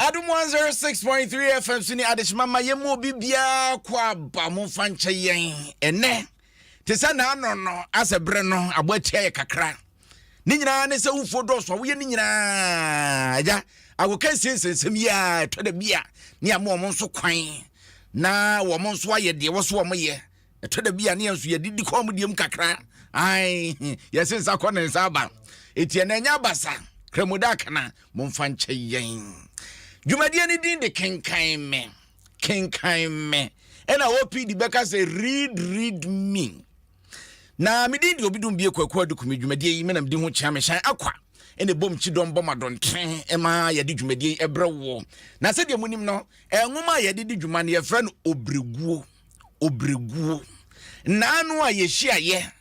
adom 106.3 fm so ne adehyema ma yɛmu obi biara kɔ aba mo fa nkyɛ yɛn ɛnɛ te sɛ naanɔ no asɛ berɛ no abɔ atia yɛ kakra ne nyinaa ne sɛ wofuo dɔɔso a woyɛ ne nyinaa agya agoka nsensɛnsɛm yi a ɛtɔ da bi a ne ama wɔn nso kwan na wɔn nso ayɛ deɛ wɔ so wɔn yɛ ɛtɔ da bi a ne yɛn nso yɛde di kɔn mu deɛ mu kakra ae yɛse nsa kɔ ne nsa aba eti ɛna ɛnyɛ abasa kramoda akana momfa nkyɛ yɛn dwumadie no din de kenkan me kenkan me ɛna opd bɛka sɛ read read me Na me din de Obidum Bie Kwaku Aduku. Me dwumadie yi, me na medi ho kyea me hyɛn akwa ɛna ɛbom kyidɔm bɔ ma dɔnten ɛma yɛde dwumadie yi ɛbrɛ woɔ. Na sɛdeɛ monim no, nwoma a yɛde di dwuma no yɛfrɛ no Obreguo. Obreguo. Naano a yɛhyiaeɛ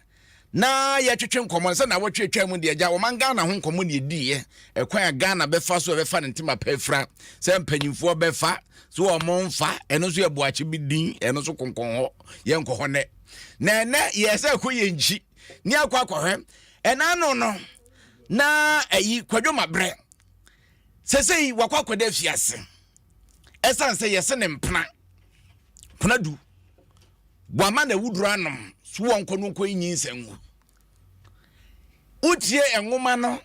na yɛtwetwe nkɔmmɔ no sɛ na wɔtwe atwa mu deɛ agya wɔman Ghana ho nkɔmmɔ ne ɛdiiɛ ɛkwan a Ghana bɛfa so ɛbɛfa ne ntoma pa afira sɛ mpanyimfoɔ bɛfa so wɔn mfa ɛno nso yɛ boakye bi din ɛno nso konkɔn hɔ yɛnkɔ hɔ nɛ na ɛnɛ yɛ sɛ kɔ yɛ nkyi ne akɔ akɔhwɛ ɛna no no na ɛyi kwadwo ma brɛ sɛsɛyi wakɔ akɔda afiase ɛsiane sɛ yɛse ne mpena pena du wama na awuduro anom so wɔ nkɔ no nkɔ nyi nsɛngu wotie nwoma no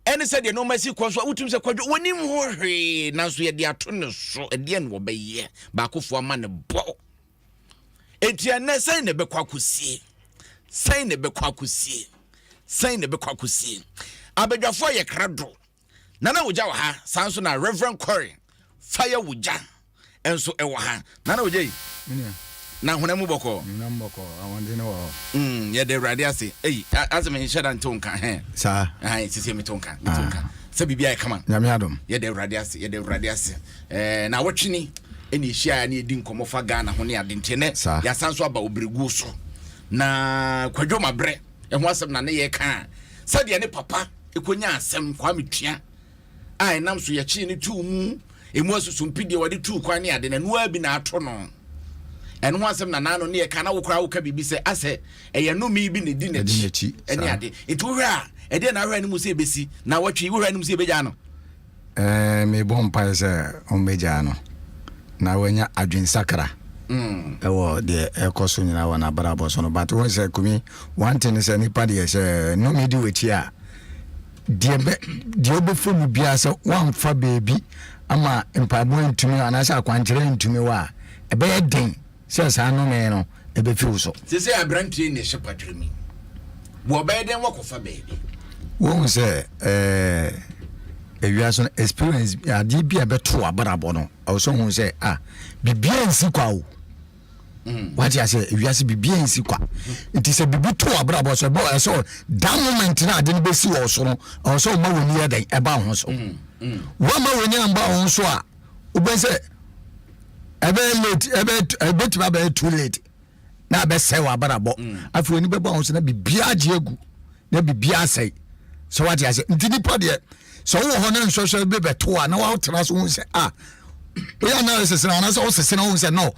ɛne sɛ deɛ nɔɔma si kɔ so a wotum sɛ kwadwo wɔnim ho hwee nanso yɛde ato ne so ɛdeɛ na wɔbɛyɛ baakofoɔ ama ne bɔ enti ɛnɛ sɛn na ɛbɛkɔ akɔsie sɛn na ɛbɛkɔ akɔsie sɛn na ɛbɛkɔ akɔsie abadwafoɔ yɛ kra do nana wogya wɔ ha saa nso na reverend kɔre fire wogya nso ɛwɔ ha nana wogya yi na hona mu bɔkɔɔ mm, yɛde awurade ase ei asɛ menhyɛ da ntew nka hɛ saa sisɛ metew nka metew nka ah. sɛ biribi ayɛ kama nyame adom yɛde awurade ase yɛde awurade ase Ɛɛ nawɔtwe ni ɛna ɛhyiaeɛ ne ɛdi nkɔmmɔ fa Ghana ho ne ade nti ɛnɛ yɛasan nso aba ɔbrɛguo so na kwadwo mabrɛ ɛho asɛm na ne yɛka a sɛdeɛ ne papa ɛkɔnya asɛm kwa metua a ɛnam so yɛkyee ne tuu mu ɛmu asusumpi deɛ wɔde tuu kwan ne ade na ɛnoa bi na ato no ɛno ho asɛm nanaa no ne yɛka na wokora woka biribi sɛ asɛ ɛyɛ nome bi na ɛdi n'akyi ɛne ade nti wohwɛ a ɛdeɛ na ahwɛ anim sɛ ɛbɛsi na wɔtwe wohwɛ anim sɛ ɛbɛgya no Ɛɛ, mebɔ mpae sɛ wɔbɛgyaa no na wanya adwensakra mm. wɔ deɛ ɛkɔ so nyinaa wɔ n'abrabɔ so no. But wɔn sɛ kumi, one thing sɛ nipa deɛ sɛ nnome di w'akyi a, deɛ bɛ deɛ ɔbɛfo mu biara sɛ wɔamfa beebi ama mpaebɔ ntumi anaasɛ akwankyerɛ ntumi wɔ a, ɛbɛyɛ den Sɛ saa nnome no befi wo so. Te sɛ aberanteɛ na ɛhyɛ patwere mu. Wɔbɛyɛ dɛn wɔakɔfa baabi. Wohu sɛ ɛɛ ewiase no experience adeɛ bi a ɛbɛto abrabɔ no ɛwɔ sɛ wohu sɛ ah biribiara nsi kwa o. Mm. wate ase ewiase biribiara nsi kwa nti sɛ biribi to abrabɔ so ɛbɛ ɛsɛ sɛ da moment na ade no bɛsi wɔ so no ɛwɔ sɛ ɔma w'ani yɛ dɛn ɛba wo ho so mm, mm. woama w'ani amba wo ho so a wobɛhu sɛ ɛbɛyɛ late ɛbɛtumi abɛyɛ too late na abɛsɛe w'abrabɔ mm. afei w'ani bɛbɔ ahosuo na biribiara agye agu na biribiara asɛe sɛ wate ase nti nipa deɛ sɛ wowɔ hɔ ne nsɔhwɛ bi bɛto a na woatena so hu sɛ a ah, woyɛ analysis no anaasɛ wosese no wohu sɛ no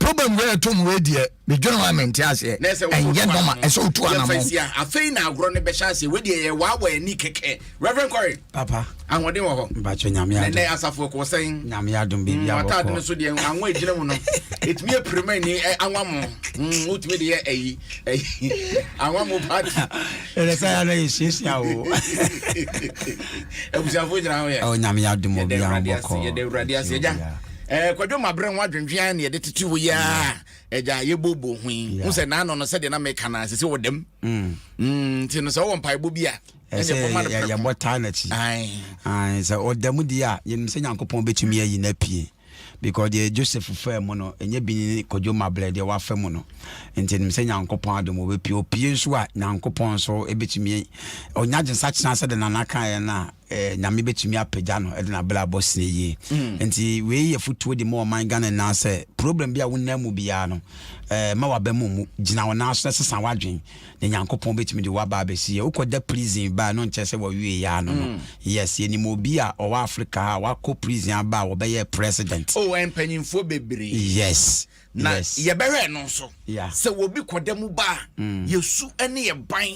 problem wei ɛto mu wei deɛ medwene ho a mente aseɛ ɛnyɛ nɔma ɛsɛ wotu anamɔ afei na agorɔ no bɛhyɛ aseɛ wei deɛ yɛ waawa ani kɛkɛ reverend kɔre papa ahoɔden wɔ hɔ mpakyɛ nyame adom ɛnɛ asafo ɛkɔ sɛn nyame adom baabi abɔkɔ wataade no so deɛ anwa agyina mu no ɛtumi apirima ni anwa mo hmm, wotumi de yɛ ayi anwa mo party ɛnɛ sɛ yɛana yɛsuasua wo abusuafoɔ nyina ho yɛ nyame adom obi abɔkɔ yɛde awurade ase agya Eh, kwadwo mabrɛ ho adwendwen ayɛ na yɛde tete wo yi a agya yɛbobo ho yi hu sɛ naano no sɛdeɛ na meka no sɛ sɛ wɔ dam mm. Mm, nti no sɛ wowɔ mpaebɔ bi a yɛbɔ taa n'akyi sɛ ɔda mu deɛ a yɛnim sɛ nyankopɔn bɛtumi ayi no apue because deɛ joseph faa mu no ɛnyɛ bi ne kwadwo mabrɛ deɛ wafa mu no nti nim sɛ nyankopɔn adom wɔbɛpie opie nso a nyankopɔn nso ɛbɛtumi ɔnya gyensa kyena sɛ de nana kaeɛ no a eh, nyame bɛtumi apagya no de nabla abɔ sene yie mm. nti wei yɛ fotuo de ma ɔman ghana nyinaa sɛ problem bi a wonam mu biara no eh, ma waba mu mu gyina wo nan so na sesa woadwen na nyankopɔn bɛtumi de woaba abɛsi yɛ wokɔda prison baa no nkyɛ sɛ wɔwie yɛa no no mm. yes yɛnim obi a ɔwɔ africa a wakɔ prison aba a wɔbɛyɛ president oh, mpanyimfoɔ bebree yes na yɛbɛhwɛ no nso sɛ obi kɔda mu ba a mm. yɛsu ne yɛ ban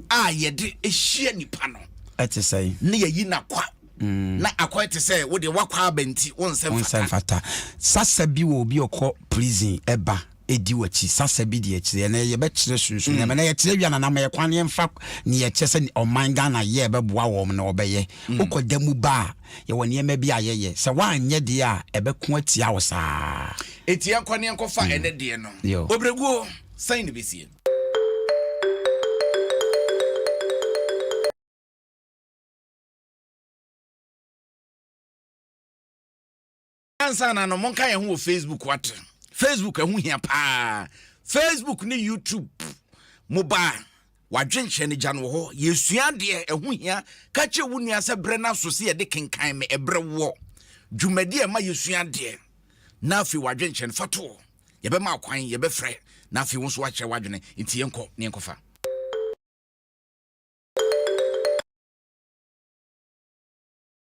a yɛde hyia nipa no ɛte sɛ ne yɛyi nakwa mm. na akwa te sɛ wode wakwa aba nti wonsɛm fata sasa bi wɔ obi ɔkɔ prison ɛba ɛdi wakyi sasa bi deɛ kyerɛ na yɛbɛkyerɛ sunsun mm. na yɛkyerɛ wia nanam yɛkwan ne yɛmfa ne yɛkyɛ sɛ ɔman ghana yɛ ɛbɛboa wɔm na ɔbɛyɛ wokɔda mu ba a yɛwɔ nneɛma bi a yɛyɛ, sɛ woanyɛ deɛ a, ɛbɛko atia wo saa. Enti yɛnkɔ ne yɛnkɔfa ɛnɛ deɛ no. Obrɛguo, sɛn ne bɛsie? ansa na no monka yɛn ho wɔ facebook wate facebook ɛho hia paa facebook ne youtube mobaa wadwenkyerɛ no gya no wɔ hɔ yɛsua deɛ ɛho hia ka kyerɛ wo nua sɛ berɛ no aso sɛ yɛde kenkan me ɛberɛ woɔ dwumadi a ɛma yɛsua deɛ na afei wadwenkyerɛ no fatoɔ yɛbɛma akwan yɛbɛfrɛ na afei wo nso wakyerɛ wadwene nti yɛnkɔ ne yɛnkɔfa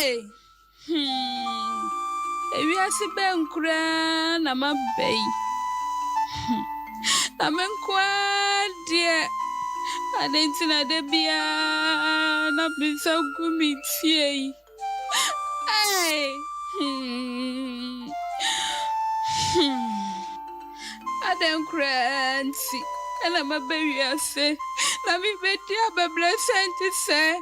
Hey! Hmm. Ewiase bɛn koraa na maba yi? Hmm. Na me nko ara deɛ ade nti na da biara na me nsa gu me tie yi. Ei! Hmm. Hmm. Adɛn koraa nti na maba wiase na mebɛdi abɛbrɛsɛn te sɛɛ?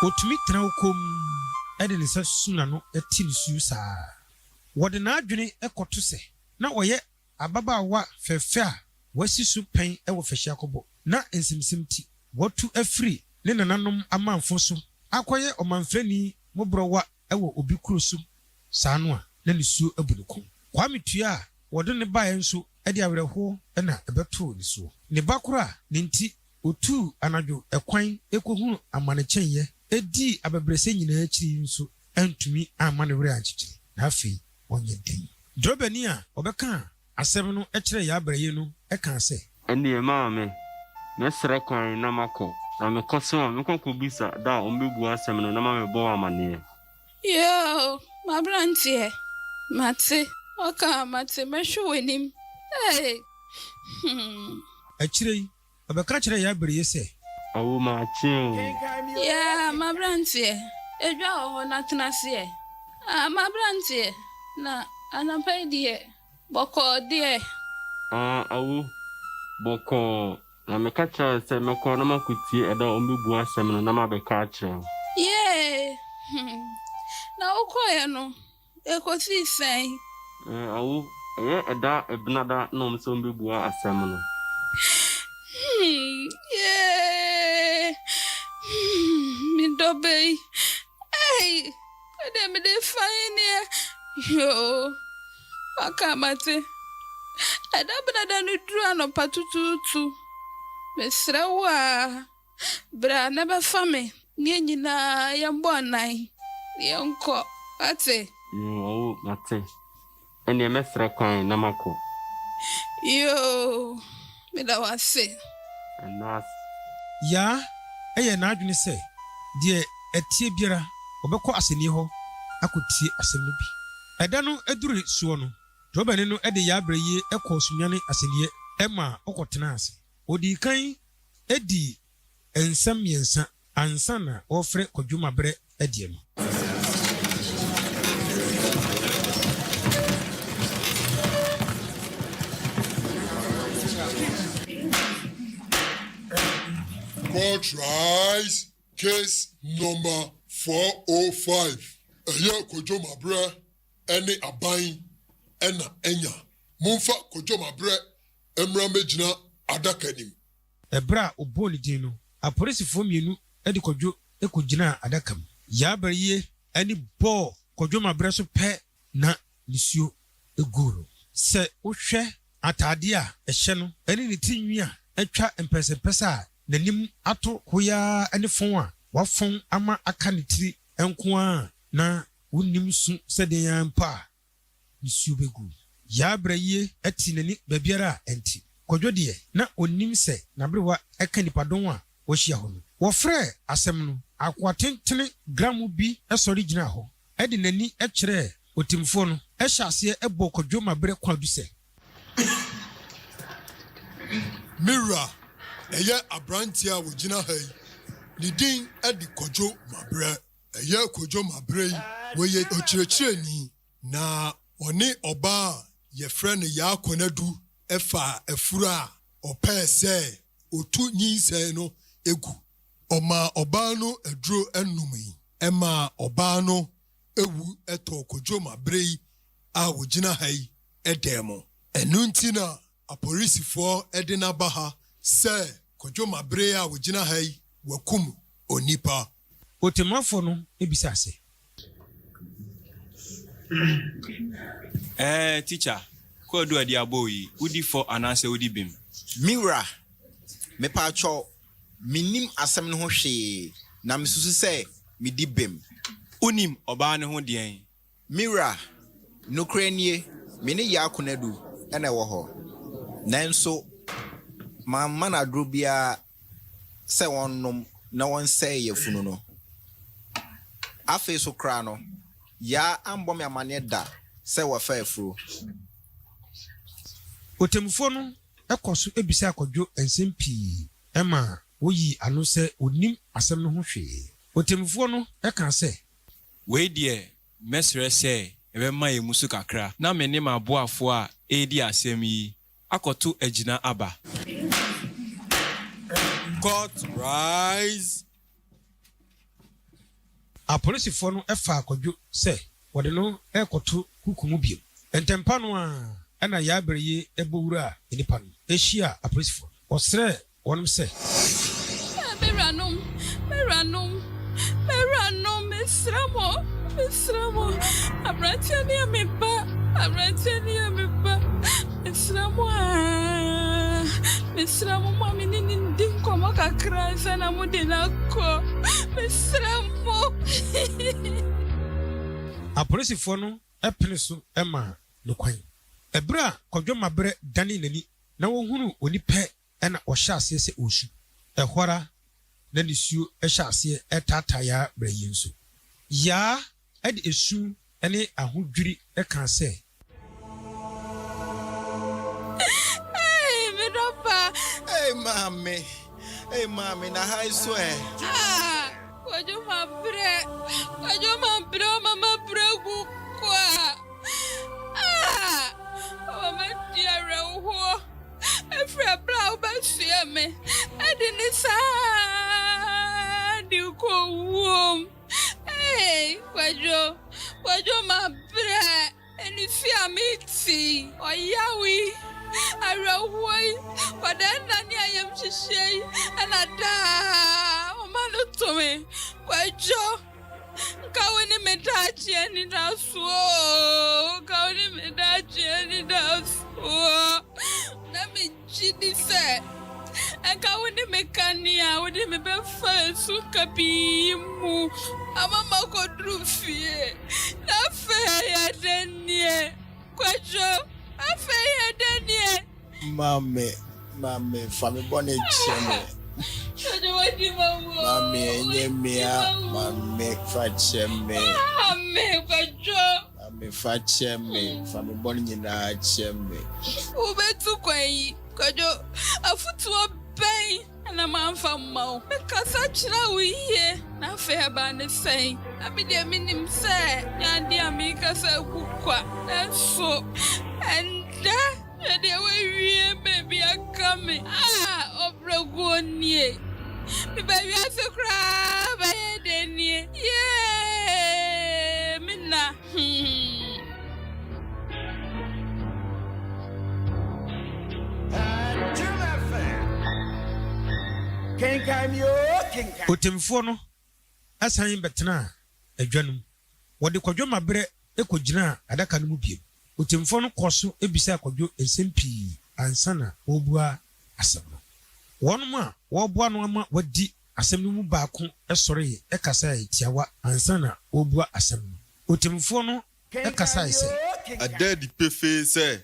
Otumi tena hɔ komm de ne nsa susu n'ano te nisuo saa. Wɔde n'adwene kɔto sɛ na ɔyɛ. Ababaawa fɛfɛ a wasi so pɛn wɔ fahyiakɔbɔ na nsɛmnsɛm ti. Watu afiri ne nananom amamfõ so akɔyɛ ɔmamfrani moborɔwa wɔ obi kuro so saa no a na nisuo abu ne kɔn. Kwame tua a wɔde no baeɛ nso de awerɛhoɔ na ɛbɛtoo ne soɔ. Ne ba koro a ne nti ɔtuu anadwo kwan kɔhunu amane kyɛneeɛ dii abɛbrɛsɛ nyinaa akyiri yi nso antumi amma ne werɛ ankyekyere na afei ɔnyɛ den. Drobani a ɔbɛkaa asɛm no kyerɛɛ Yabra yi no kaa sɛ. Ɛnneɛ maame, mɛsrɛ kwan na makɔ. Na mekɔ so a, mɛkɔ akɔbisa da a wɔbɛbua asɛm no na mabɛbɔ wo amanneɛ. Yoo, m'aberanteɛ, mate. Ɔkaa, Mate, mɛhwɛ w'anim. Ee, hmm. Akyire yi, Ɔbɛka kyerɛɛ yɛn bere yi sɛ. Awo m'akye o. Yeah m'abranteɛ, edwa wɔ hɔ na tena ase ɛ. Ah m'abranteɛ, na anɔpa yi deɛ, bɔkɔɔ deɛ. Ah awo, bɔkɔɔ, na meka kyerɛɛ wo sɛ mɛkɔ na makɔtie ɛda a wɔbɛbua asɛm no na mabɛka akyerɛ wo. Yeah hmm, na wokɔeɛ no, Ekosii sɛn? Ɛɛ awo, ɛyɛ ɛda Ɛbenada na wɔn sɛ wɔbɛbua asɛm no. Hmm, yee, hmm, me dɔ bɛyi, ei, ɛdeɛ mede fa yi neɛ, yoo, waka mate. Ɛda Ɛbenada no duru anɔpa tutuutu, mesrɛ wo a. Bra na bɛfa me ne yɛn nyinaa yɛmmɔ anan na yɛnkɔ. Woate? Mm, oo, mate. Ɛnneɛ mɛsrɛ kwan na makɔ. Yoo, meda wo ase. Anaas. Yaa, ɛyɛ n'adwene sɛ deɛ ɛteɛ biara ɔbɛkɔ asɛnnie hɔ akɔtie asɛm no bi. Ɛda no duri soɔ no, drɔbani no de Yaa brɛ yie kɔɔ Sunyani asɛnniiɛ maa ɔkɔtenaa ase. Wɔdii kan dii nsɛm mmiɛnsa ansa na wɔrefrɛ Kwadwom Aberɛ Adie no. Court Rise Case Number four O five, Ɛyɛ Kwadwom Aberɛ ne Aban na Anya Momfa Kwadwom Aberɛ mmra mmɛgyina adaka anim. Ɛberɛ a ɔbɔɔ ne din no, apolisifoɔ mmienu de Kwadwo kɔgyinaa adaka mu. Yabaryie ani bɔɔ Kwadwo ma berɛ so pɛ na nisuo guu no. Sɛ wohwɛ ataadeɛ a ɛhyɛ no ne ne ti nwi a atwa mpɛsɛmpɛsɛ a n'anim ato hoyaa ne fɔn a wafɔn ama aka ne tiri nko ara a na wonnim su sɛ deɛn ara mpo a, Nsuo bɛgu. Yaa Brayie ati n'ani baabiara a ɛnte. Kwadwo deɛ, na ɔnnim sɛ n'aberewa ka nnipadɔn a wɔahyia hɔ no. Wɔfrɛɛ asɛm no. Akoa tentene gramo bi sɔre gyinaa hɔ de n'ani kyerɛɛ ɔtemmufoɔ no, hyɛɛ aseɛ bɔɔ Kwadwo ma berɛ kwan du sɛ. Me wura, ɛyɛ aberanteɛ a ɔgyina ha yi, ne din de Kwadwo ma berɛ. Ɛyɛ Kojo ma berɛ yi ɔyɛ ɔkyerɛkyerɛni na ɔne ɔbaa a yɛfrɛ no Yaa Konadu faa afuro a ɔpɛɛ sɛ ɔtu nyinsɛn no gu. Ɔmaa ɔbaa no aduro nom yi ɛmaa ɔbaa no wu tɔɔ Kojo ma berɛ yi a ɔgyina ha yi dan mu. Ɛno nti na Apolisifoɔ de no aba ha sɛ kwadwo ma bere a wɔgyina ha yi wɔakum onipa. Otemafo no bisa se. Ɛɛ, tikya, kwadu a di abow yi, wodi fɔ anaasɛ wodi bem? Me wura, mepaatwɔ, minnim asɛm no ho hwee, na misusu sɛ midi bem. Wunim ɔbaa no ho deɛn? Me wura, nokorɛ nie, me ne Yah kunadu na ɛwɔ hɔ, nanso mamma no aduro biara sɛ ɔnnom na ɔnsɛe yafunu no. Afei nso koraa no, Yah ammɔ me amaneɛ da sɛ wafa afuro. Ɔtemmufoɔ no kɔɔ so bisaa Kwadwo nsɛm pii ma ɔyii ano sɛ ɔnnim asɛm no ho hwee. Ɔtemmufoɔ no kaa sɛ. Wei deɛ mɛsrɛ sɛ yɛbɛma yɛn mu so kakra na me ne m'aboafoɔ a ɛredi asɛm yi akɔto agyina aba. Court rise! Apolisifoɔ no faa Kwadwo sɛ wɔde no rekɔto kuku mu bio. Ntɛmpa no ara na Yaabereye bɔ wuraa nnipa no, hyiaa apolisifoɔ no. Ɔsrɛɛ wɔnom sɛ. Ɛɛ, me wuranom, me wuranom, me wuranom, mesrɛ mo, mesrɛ mo, aberanteɛ no yɛ me ba, aberanteɛ no yɛ me ba, mesrɛ mo aa, mesrɛ mo, mo a me ne no ndi nkɔmmɔ kakra ansa na mode no akɔ, mesrɛ mo. Apolisifoɔ no pene so maa no kwan. Ɛberɛ a Kwadwo Mabrɛ danee n'ani na ɔhunuu onipa Ɛnna ɔhyɛɛ aseɛ sɛ ɔresu. Ɛhɔ ara na nisuo hyɛɛ aseɛ taataa Yaa berɛ yi nso. Yaa de esu ne ahodwiri kaa sɛ. Ei, me dɔ pa! Ei, Maame! Ei, Maame, na ha nso ɛ? Ah! Kwadwo mabrɛ kwadwo mabrɛ ɔma mabrɛ gu kwa ah ɔma madi awerɛhoɔ ɛfiri ɛberɛ a wobɛsoɛ me ɛde ne saa de kɔ wuom hey kwadwo kwadwo mabrɛ Anifere a mete yi, ɔyaw yi, awerɛhoɔ yi, kwadanna ne ayamhyehyeɛ yi na daa ɔma no to me. Kwadwo, nka wo ne me daakye anidaso oo, nka wo ne me daakye anidaso oo. Gye di sɛ anka wo ne me ka nea wode me bɛfa nsu kabii yi mu ama makɔduru fie. Na afei ayɛ dɛn nie, Kwadwo? Afei yɛ dɛn nie? Maame, maame, fa me bɔne kyɛ me. Kwadwo, wadi m'awu o. Maame, ɛnyɛ me a, maame, fa kyɛ me. Maame, Kwadwo. Ame fa kyɛ me, fa me bɔne nyinaa kyɛ me. Wobɛtu kwan yi, Kwadwo, afotuo bɛn na mamfa mma wo? Mekasa kyerɛɛ wo yie na afei ɛbaa ne sɛn? Na me deɛ menim sɛ nyɛ adeɛ a merekasa gu kwa, nanso ɛnnɛ. Na deɛ wawie baabi aka me a, ɔbrɛguo nie. Meba wiase koraa bɛyɛ dɛ nie. Yee, me nna. Otemfoɔ no san bɛtenaa adwa no mu. Wɔde Kwadwo Mabrɛ kɔgyinaa adaka no mu bio. Ɔtemmufoɔ no kɔɔ so bisaa Kwadwo nsɛm pii ansa na ɔrebua asɛm no. Wɔnom a wɔreboa no ama wadi asɛm no mu baako sɔree kasae tiawa ansa na ɔrebua asɛm no. Ɔtemmufoɔ no kasae sɛ. Ɛda adi pefee sɛ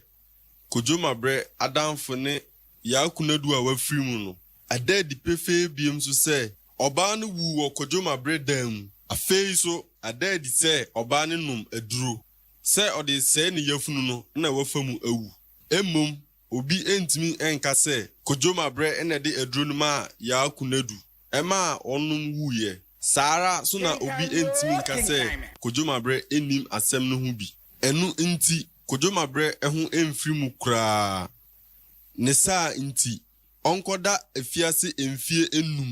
Kwadwo Mabrɛ adamfo ne Yaa Kunadu a wafiri mu no. Ɛda adi pefee bio nso sɛ Ɔbaa no wuu wɔ Kwadwoma bere dan mu. Afei nso, ada adi sɛ ɔbaa no nom aduro, sɛ ɔde resɛe ne yafunu no na wafa mu awu. Mmom, obi ntumi nka sɛ Kwadwoma bere na ɛde aduro no maa Yaa Kunadu, ɛmaa ɔnom wuiɛ. Saa ara nso na obi ntumi nka sɛ Kwadwoma bere nnim asɛm no ho bi. Ɛno nti, Kwadwoma bere ho mfiri mu koraa. Ne saa nti, ɔnkɔda afiase mfeɛ nnum.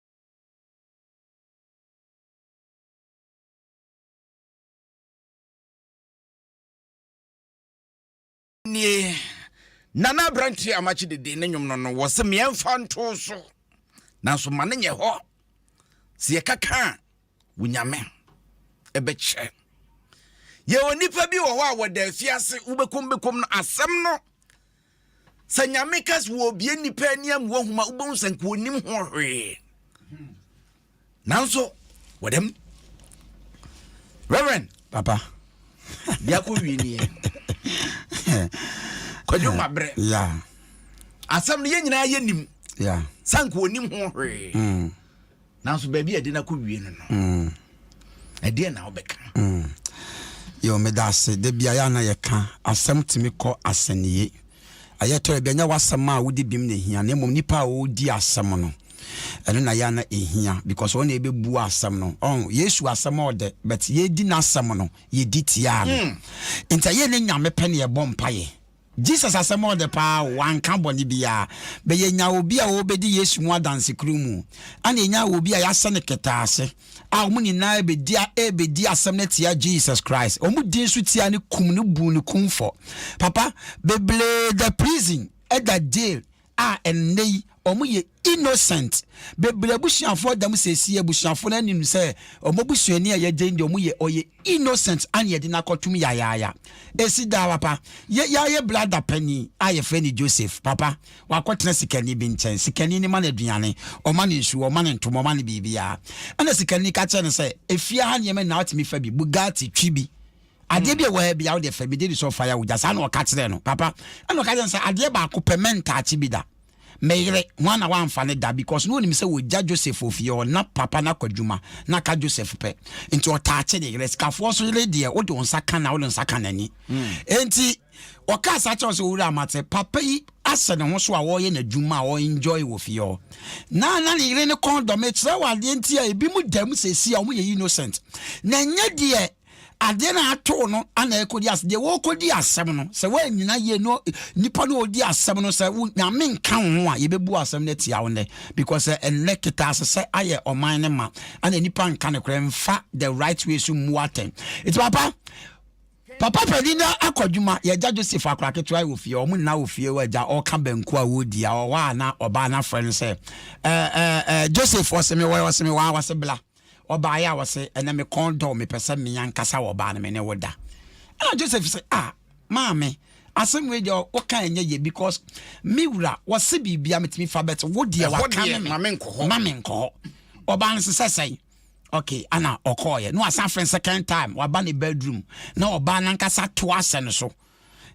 nie na na aberanteɛ a makye dede ne nnwom no no wɔ sɛ meɛmfa nto so nanso ma no nyɛ hɔ sɛ yɛkaka a wo nyame ɛbɛkyɛ yɛ onipa bi wɔ hɔ a wɔda afiase wobɛkom bɛkom no asɛm no sɛ nyame kas wɔ obie nnipa ani amu ahoma wobɛhu sɛ nka ɔnim ho hwee nanso wɔdɛm reverend papa biako wie nie kwadwo mabrɛ asɛm no yɛ nyinaa yɛ nim sɛ nka ɔnim ho hwee hmm. nanso baabi a ɛde no akɔwie no no mm. ɛdeɛ na wobɛka mm. yɛ meda ase da bia yɛ ana yɛka asɛm tumi kɔ asɛnniye ɛyɛ tɔ ɛbi ɛnyɛ w'asɛm a wode bim na ɛhia na mmom nipa a ɔredi asɛm no ɛno na yɛ ana ɛhia because ɔne ɛbɛbu asɛm no ɔn yesu asɛm ɔdɛ but yɛdi n'asɛm no yɛdi tiaa no mm. nti ɛyɛ ne nyame pɛ ne yɛbɔ mpayɛ Jesus asɛm a ɔdɛ paa o, ɔannka bɔne biara. Bɛ yɛnyaa obi a ɔɔbɛdi Yesu mu adanse kuro mu, ɛna yɛnyaa obi a yɛahyɛ no kɛtɛase, a wɔn nyinaa rebɛdi a rebɛdi asɛm no atia Jesus Christ. Wɔn dii nso tia no kum no buu no kumfɔ. Papa, bebree da prison, ɛda jail, a ɛnnɛ yi wɔn yɛ innocent bebree abusuafoɔ dɛm sɛsi abusuafoɔ no anim sɛ wɔn abusuani a yɛgye deɛ wɔn yɛ ɔyɛ innocent ana yɛde no akɔtum yayaaya esi daa papa yɛ yɛayɛ brada panyin a yɛfrɛ no Joseph papa wakɔtena sikani bi nkyɛn sikani no ma no aduane ɔma no nsuo ɔma no ntoma ɔma no biribiara ɛna sikani ka kyerɛ no sɛ efie ha nneɛma nyinaa atumi fa bi Bugatti twi bi adeɛ bi a wɔyɛ bia wode fɛ mede di sɛ ɔfa yɛ wogya saa na ɔka kyerɛ no papa ɛna ɔka kyerɛ no sɛ adeɛ baako pɛ mɛntaakye bi da meyere ho ana wamfa ne da because na ɔnim sɛ wɔgya joseph ofie ɔna papa no akɔ adwuma na ka joseph pɛ nti ɔtaakye ne yerɛ sikafoɔ so yere deɛ wode wo nsa ka na wode nsa ka n'ani enti hmm. ɔkaa saa kyɛw sɛ owura amate papa yi asɛ ne ho so a wɔyɛ n'adwuma a ɔenjoy wɔ fie hɔ na na ne yere ne kɔndɔm ɛkyerɛ wɔ adeɛ nti a ebi mu dam sɛsi a wɔyɛ innocent na ɛnyɛ deɛ Adeɛ no a ato wo no ana ɛrekɔdi asɛm. Deɛ wɔrekɔdi asɛm no, sɛ woannyina yie no nipa no ɔredi asɛm no sɛ wo nyame nka wo ho a, yɛbɛbu asɛm no atia wo nnɛ. Because sɛ ɛnnɛ ketaasesɛ ayɛ ɔman no ma, ana nipa nka nokorɛ mfa the right way so mmu atɛn. Nti papa, papa panin no akɔ adwuma, yɛgya Joseph akora ketewa wɔ fie, wɔn nyinaa wɔ fie wɔ agya ɔka banku a wɔredi a ɔwɔ a na ɔbaa no afrɛ no sɛ, ɛɛ ɛɛ ɛɛ Joseph ɔseme wɔ ɔseme wɔ a ɔse bla. Ɔbaeɛ a ɔse, ɛnɛ me kɔn dɔ mepɛ sɛ me ankasa wɔ ɔbaa no me ne wo da. Ɛna Joseph sɛ, ah, maame, asɛm wei deɛ woka ɛnyɛ yɛ because me wura wɔse biribia metumi fa bɛte wo deɛ waka me ma me nkɔ hɔ. Ma me nkɔ hɔ. Ɔbaa no sɛ sɛn? Okay, ana ɔkɔɔyɛ. No asan frɛ second time, waba ne bedroom na ɔbaa no ankasa to asɛ no so.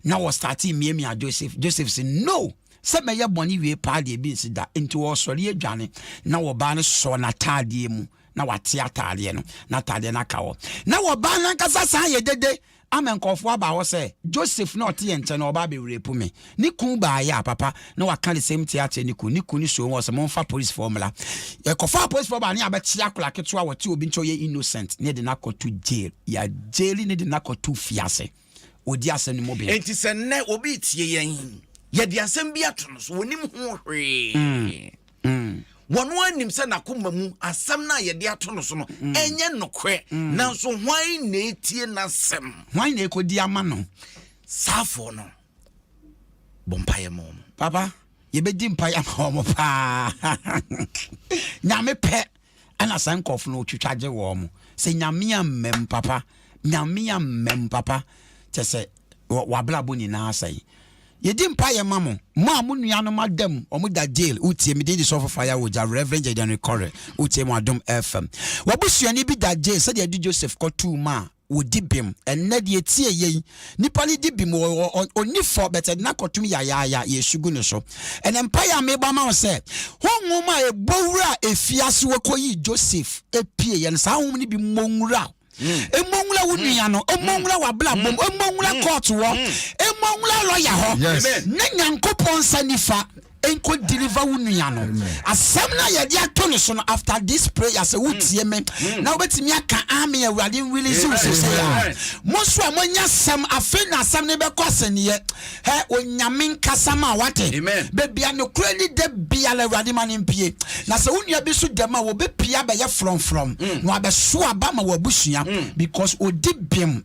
na wɔ starte miamia Joseph Joseph se no sɛ mɛyɛ bɔne wie paa deɛ bi nsi da nti wɔsɔre adwane na wɔbaa no sɔ n'ataadeɛ mu na wate ataadeɛ no na ataadeɛ no aka hɔ na wɔbaa no ankasa saa yɛ dede ama nkɔfoɔ aba hɔ sɛ Joseph na ɔte yɛn nkyɛn na ɔbaa bɛwurepu me ne kun baa yɛ a papa na waka de sɛm ti akyɛ ne kun ne kun ne so wɔ sɛ momfa policefoɔ mmra ɛkɔfa policefoɔ baa ne abɛkye akora ketewa wɔte obi nkyɛ ɔyɛ innocent ne de no akɔto jail yɛ jail ne de no akɔto fiase wɔdi asɛm no mu bem. Enti sɛ nnɛ obi retie yɛn, yɛde asɛm bi ato no so, wɔnim ho hwee. Mm. Mm. Wɔn anim sɛ n'akoma mu asɛm no a yɛde ato no so no mm. ɛnyɛ nokorɛ, mm. nanso hwan na etie n'asɛm? Hwan na ekodi ama no? Saafoɔ no bɔ mpaeɛ ma wɔn. Papa, yɛbɛdi mpaeɛ ama wɔn paa. Nyame pɛ. Ɛna saa nkorɔfo no twitwa gye wɔn mo sɛ nyame amma mu papa nyame amma mu papa kyɛ sɛ wabrabɔ nyinaa sɛe yɛdi mpa yɛ ma mo mo a mo nua no ma dam wɔn da jail wotie me din de sɔfo faya wogya reverend jadian rekɔre wotie mo adom fm wabusuani bi da jail sɛdeɛ ɛde joseph kɔtuu ma a wɔdi bem ɛnnɛ deɛ tie yei nipa no di bem ɔni fɔ bɛtɛ de nakɔtom yayaaya yɛsu gu ne so ɛnɛ mpaeɛ a mebɔ ama wo sɛ honhom a ɛbɔ wura a ɛfie ase wɔkɔyi Joseph ɛpie yɛ no saa honhom no bi mmɔ nwura mmɔ nwura wo nua no mmɔ nwura w'abrabɔ mu mmɔ nwura kɔɔto hɔ mmɔ nwura lɔya hɔ ne nyankopɔn nsa nifa nkɔ deliver wo nua no asɛm na yɛde ato no so no after this prayer sɛ wotie hmm. me hmm. na wobɛtumi aka ame awurade release wo sɛ a mo nso a moanya asɛm afei na asɛm no bɛkɔ asɛnneɛ hɛ onyame nkasa ma wate bebia nokorɛ ni da biara awurade ma no mpie na sɛ wo nua bi so dɛm a wɔbɛpia bɛyɛ frɔmfrɔm hmm. na wabɛso aba ma wabusua because ɔdi bem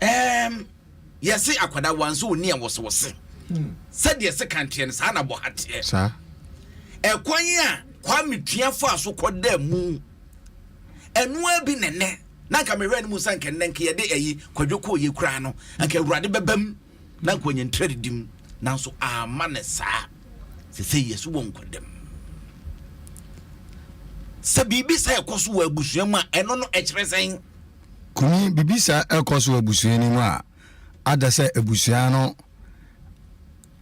Ɛɛm, yɛse akwadaa wanso ɔni a wɔse wɔse. Hmm. Sɛdeɛ se kan teɛ no saa na bɔ ha teɛ. Saa. Ɛkwan a Kwame Tua faa so kɔda mu ɛnoa bi nɛnɛ na nka mehwɛ no mu sɛ nka nnɛ nka yɛde ayi kwadwo kɔɔ yɛ kuraa no nka awurade bɛbam Na nka wanya ntradidim, nanso amma no saa. Seesei Yesu wɔ nkwadam. Sɛ biribi saa ɛkɔ so wɔ abusua mu a, ɛno no ɛkyerɛ sɛn? Kumi, Biribi saa ɛkɔ so wɔ abusua no mu a, ada sɛ abusua no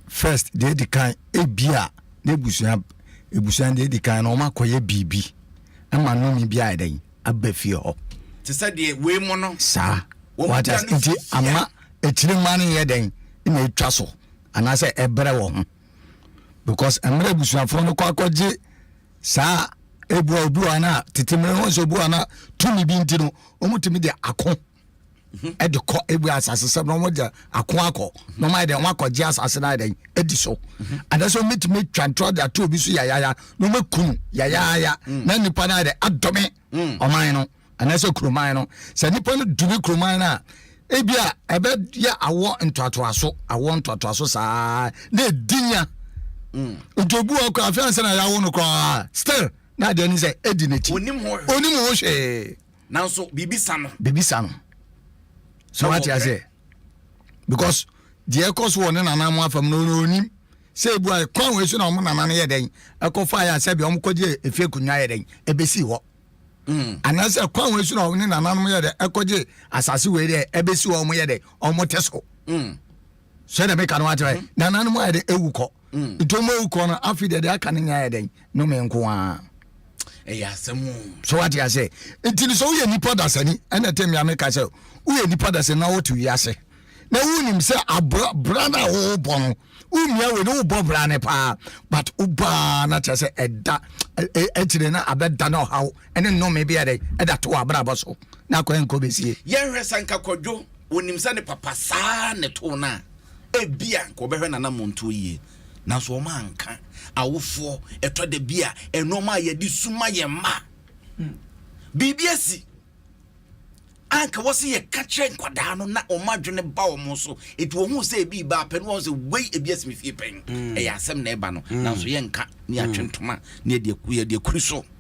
first, deɛ edi kan, ebia n'abusua, abusua no deɛ edi kan no, wɔakɔyɛ biribi ma nnome bi ayɛ dɛn? aba fie hɔ. Te sɛ deɛ wei mo no. Saa. Wɔn da no nti ama akyire mma no yɛ dɛn na ɛtwa so anaasɛ ɛbrɛ wɔ ho because mmerɛ abusuafoɔ no kɔ akɔgye saa ebua obi wɔ ana tete mmerɛ wɔn sɛ obi wɔ ana tumi bi nti no wɔn tumi de ako. ɛde kɔ ebi asase sɛ na wɔn de ako akɔ na wɔn ayɛ dɛ wɔn akɔ gye asase na ayɛ dɛ edi so anaasɛ wɔn betumi atwa ntorɔ de ato obi so yayaya na wɔn akunu yayaya na nipa na ayɛ dɛ adome ɔman no anaasɛ kuroman no sɛ nipa no dumi kuroman no a ebi a ɛbɛyɛ awɔ ntoatoaso awɔ ntoatoaso saa na edinya ojobu ɔkọ afei ansa na yɛawo no koraa still na adeɛ no sɛ edi n'akyi onim ho hwee. nanso biribi sa no. biribi sa no so Ɛwɔ wate aseɛ because deɛ ɛkɔ so wɔ ne nana mo afam no ɔno ɔnim sɛ ebu a kwan wei so na wɔn nana no yɛ dɛn ɛkɔ fa yɛ asɛ bi wɔn kɔ gye efie akonnwa yɛ dɛn ebesi hɔ Mm. anaasɛ kwan wei so na wɔn ne nananom yɛ dɛ ɛkɔgye asase wei dɛ ɛbɛsi hɔ wɔn yɛ dɛ wɔn te so Mm. sɛdeɛ meka no akyerɛ mm. nananom ayɛ dɛ ɛwu kɔ mm. nti ɔma ɛwu kɔ no afei deɛ deɛ aka no nyɛ ayɛ dɛn no me nko a ɛyɛ asɛm so wate asɛ nti no sɛ woyɛ nnipa dasani ɛna ɛte mmea meka sɛ woyɛ nnipa dasani na wote wiase na wonim sɛ abra no a wowobɔ no womia wei ne wobɔ bra ne paa but wobaa na kyerɛ sɛ ɛda akyire no abɛda no ɔhaw ɛne nnome bi ɛdɛ ɛda to abrabɔ so na akɔɛ nkɔ bɛsie yɛhwɛ sɛ nka kɔdwo Onim sɛ ne papa saa ara na ɛtoo no a, ebia anka ɔbɛhwɛ n'anammɔntuo yie. Nanso wɔanka. Awofoɔ, ɛtɔ da bi a, nneɛma a yɛde su ma yɛn mma, biribi asi a anka wɔ sɛ yɛka kyerɛ nkwadaa no na wɔn adwene ba wɔn so. Enti wɔhu sɛ ebi ba apɛ no wɔn sɛ wei ebi asi me fie pɛn. Mm. Ɛyɛ asɛm na ɛba no, mm. nanso yɛnka ne yɛatwe mm. ntoma ne yɛde akuri so.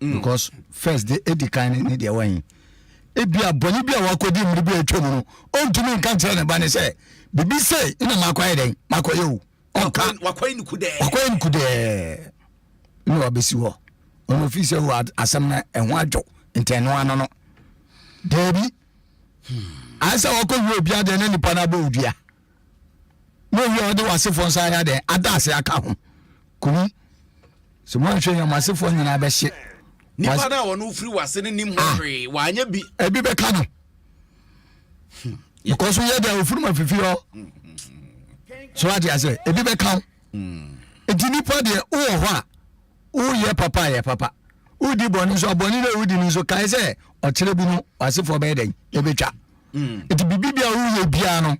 mm. because first de edi kan ne ne deɛ wɔn ebi a bɔnne bi a wakɔdi mmiri bi a atwa mu no ɔntumi nka nkyerɛ ne ba ne sɛ bibi se na makɔyɛ dɛn makɔyɛ o ɔnka wakɔyɛ nuku dɛɛ wakɔyɛ nuku dɛɛ na wabɛsi hɔ ɔno fi sɛ wɔ asɛm no ɛho adwo ntɛno ano no daabi hmm. ayɛ sɛ wakɔwie obi adeɛ na nipa no abɔ odua na owie a ɔde w'asefoɔ nsa ayɛ dɛn ada ase aka ho kunu sɛ moanhwɛ yɛ mo asefoɔ nyinaa bɛhye nipa no a wɔne wofiri w'ase no nim ho ah. hwee wanyɛ bi ebi bɛka no hmm. because woyɛ deɛ wofiri ma fifi hɔ hmm, hmm, so ate asɛ ebi bɛka wo nti nipa deɛ wowɔ hɔ a woyɛ papa yɛ papa wodi bɔne nso abɔne dɛ wodi no nso kae sɛ ɔkyerɛ bi no w'asefoɔ bɛyɛ dɛn ɛbɛtwa mm. nti biribi bia woyɛ biara no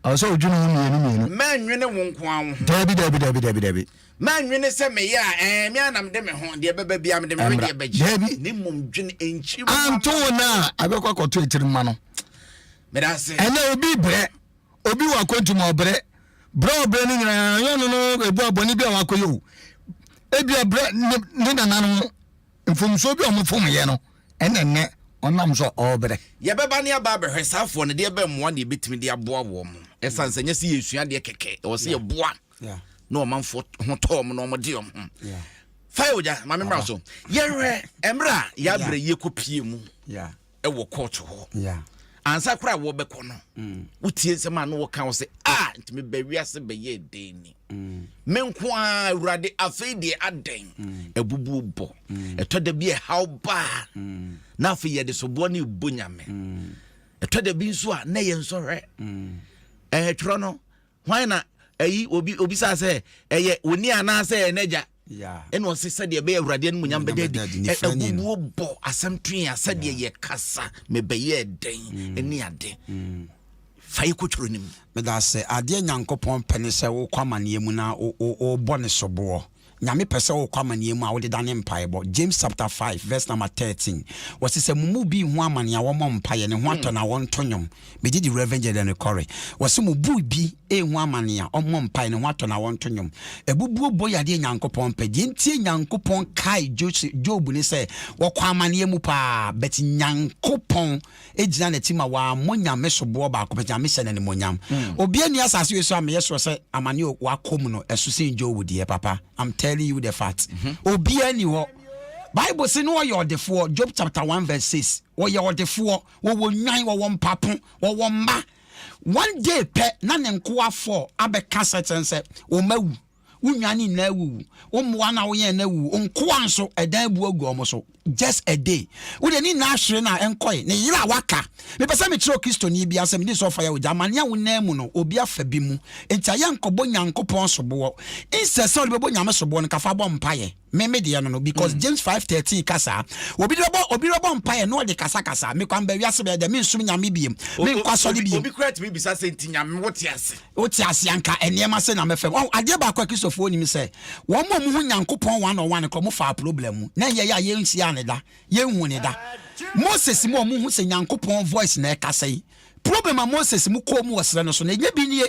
ɛwɔ sɛ wodwene ho mmienu mmienu mɛnwene wo nko a wo ho daabi daabi daabi daabi daabi mɛnwene sɛ meyɛ a ɛɛ me anam de me ho deɛ bɛba bia mede me wedeɛ bɛgye ne mmom dwene nkyi mu anto wo no a abɛkɔ akɔto akyiri ma no medase ɛnɛ obi brɛ obi wɔ akwantum a ɔbrɛ brɛ ɔbrɛ no nyinaa yɛ no no ɛbu abɔne bi a wakɔyɛ o ebia brɛ ne nananom Mfomsoɔ bi a wɔfomyɛ no ɛna nnɛ ɔnam so a ɔrebrɛ. Yɛbɛba ne aba abɛhwɛ saa afoɔ no deɛ bɛn mmoa na yɛbɛtumi de aboa wɔn. Ɛsiane sɛ ɛnyɛ sɛ yɛresua adeɛ kɛkɛ, ɛwɔ sɛ yɛboa na ɔmanfoɔ ho tɔ wɔn na wɔde wɔn ho. Fa yɛ ogya, maame mmra so. Yɛhwɛ mmerɛ a yɛabrɛ yi kɔpie mu. wɔ court hɔ ansa koraa a wɔbɛkɔ no mm. wotie nsɛm a na wɔka wo sɛ a ah, nti meba wiase bɛyɛ dɛn ni mm. me nko a awurade afei deɛ adɛn mm. abubuo bɔ ɛtɔ da bi ɛhaw baa na afei yɛde soboɔ ne ɛbɔ nyame ɛtɔ da bi nso a na yɛn nsɔhwɛ ɛtwerɛ no Hwan na ayi obi obisaa sɛ ɛyɛ wo ni anaasɛ ɛyɛ n'agya ɛna ɔse sɛdeɛ ɛbɛyɛ awurade animonyam bɛda adi abubuo bɔ asɛm twe a sɛdeɛ yɛkasa mebɛyɛ dɛn mm. ɛne ade mm. fa yɛ kɔtwerɛ no mu meda sɛ adeɛ nyankopɔn pɛ ne sɛ wokɔ amanneɛ mu na wobɔ ne soboɔ Nyame pɛ sɛ wokɔ amaneɛ mu a wode dane mpaebɔ, James chapter 5 verse number 13. Wɔse sɛ mo mu bi hu amane a wɔmmɔ mpaeɛ, ne ho atɔ no a wɔnto nnwom. Megye di Rev Gyada no kɔre. Wɔse mo bu bi ehu amane a ɔmmɔ mpaeɛ, ne ho atɔ no a wɔnto nnwom. Abubuo bɔ yɛ adeɛ Nyankopɔn mpɛ. Deɛ ntie Nyankopɔn kae Job ne sɛ wɔkɔ amaneɛ mu paa, but Nyankopɔn. gyina n'akyi ma wammɔ nyame soboɔ baako pɛ, Nyame hyɛ no animuonyam. Obia nni asase wei so a meyɛ sure sɛ amane o wakɔ mu no ɛso sen Job deɛ papa, I'm telling you the fact. Obia nni hɔ. Bible se no ɔyɛ ɔdefoɔ, Job chapter 1 verse 6. Ɔyɛ ɔdefoɔ, wɔwɔ nnwan, wɔwɔ mpapo, wɔwɔ mma. One day pɛ na ne nkoa four abɛka sɛ kyerɛ no sɛ wɔn awu. wo nnwan no nyinaa awuwu wo mmoa no a woyɛn no awuwu wo nkoa nso ɛdan abu agu wɔn so just a day wode ne nyinaa hwere no a ɛnkɔe ne yere a waka mepɛ sɛ mekyerɛ kristoni bia sɛ mede sɛ ɔfa yɛ ogya amane a wonan mu no obi afa bi mu nti ayɛ nkɔbɔ nyankopɔn soboɔ insɛ sɛ wode bɛbɔ nyame soboɔ no kafa bɔ mpayɛ me me deɛ no no because mm. James five thirteen ka saa obi de bɛbɔ obi de bɛbɔ mpaeɛ na ɔde kasakasa mekɔ amba wiase bɛyɛ dɛ mensom nyame biem menkɔ asɔre biem obi kura tumi bisa sɛ nti nyame wote ase wote ase anka nneɛma sɛ na mɛfam ɔn adeɛ baako a kristofoɔ nim sɛ wɔn a wɔn ho nyankopɔn wɔn anɔ wɔn kɔ mo fa problem mu na yɛ yɛ a yɛnhyia ne da yɛnhu ne da moses mu a wɔn ho sɛ nyankopɔn voice na ɛkasa yi problem a moses mu kɔɔ mu wɔ serɛ no so na ɛnyɛ bi nie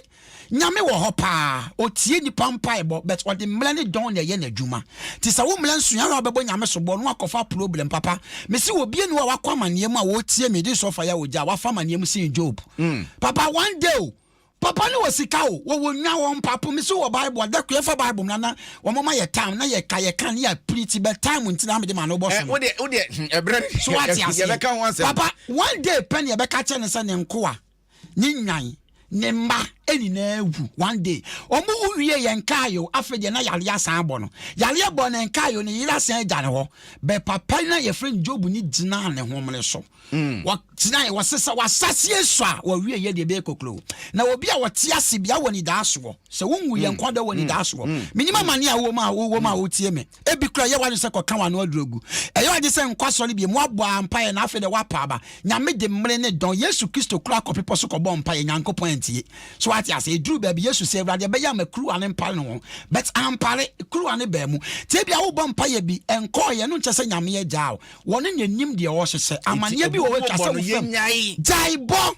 Nyame wɔ hɔ paa, ɔtie nnipa mpaebɔ but ɔde mmrɛ ne dɔn na ɛyɛ n'adwuma. Nti sɛ wo mmrɛ nsoɛ ara a wobɛbɔ Nyame soboɔ na woakɔfa problem papa. Mese wɔ obia ni hɔ a wakɔ amaneɛ mu a ɔretie me de nsuo afa yɛ ogya a wafa amaneɛ mu sen Job. Papa one day o. Papa no wɔ sika o, wɔwɔ nnwa, wɔwɔ mpapo, mese wowɔ bible a, da koro yɛmfa bible mmra na wɔn ma yɛ time na yɛka, yɛka ne yɛapiri ti but time nti na mede ma no wobɔ so no. So woate aseɛ? Papa one day pɛ na yɛbɛka akyerɛ no sɛ ne nkoa. ne nwan ne mma nyinaa wu one day wɔn wu wie yɛn kae o afei deɛ na yareɛ asan abɔ no yareɛ bɔ ne nkae o ne yere asan agya ne hɔ bɛ papa na yɛfrɛ no job ne gyinaa ne homene so mm. wɔgyina yɛ wɔse sɛ wasaseɛ so a wɔwie yɛ deɛ bɛyɛ kokuro na obi a wɔte ase bia wɔ ne daa soɔ sɛ wonwu yɛn mm. nkwa dɔ wɔ ne mm. daa soɔ menim amane a wowɔ mu a wowɔ mu a wotie me ebi kura yɛ w'adwene sɛ kɔka w'ano aduro gu ɛyɛ ɔgye sɛ nkɔ asɔre bie mu abɔ ampaeɛ na afei deɛ woapa aba nyame de mmere ne dɔn yesu kristo kura akɔ pepɔ so kɔbɔ mpaeɛ nyankopɔn antie so ate ase ɛduru baabi yesu sɛ awurade ɛbɛyɛ ama kuruwa ne mpare no ho but ampare kuruwa ne baa mu tie bi a wobɔ mpaeɛ bi ɛnkɔɔyɛ no nkyɛ sɛ nyame agyaa wo wɔne na anim deɛ ɔhyehyɛ amanneɛ bi wɔ wɔatwa sɛ wo fam gyae bɔ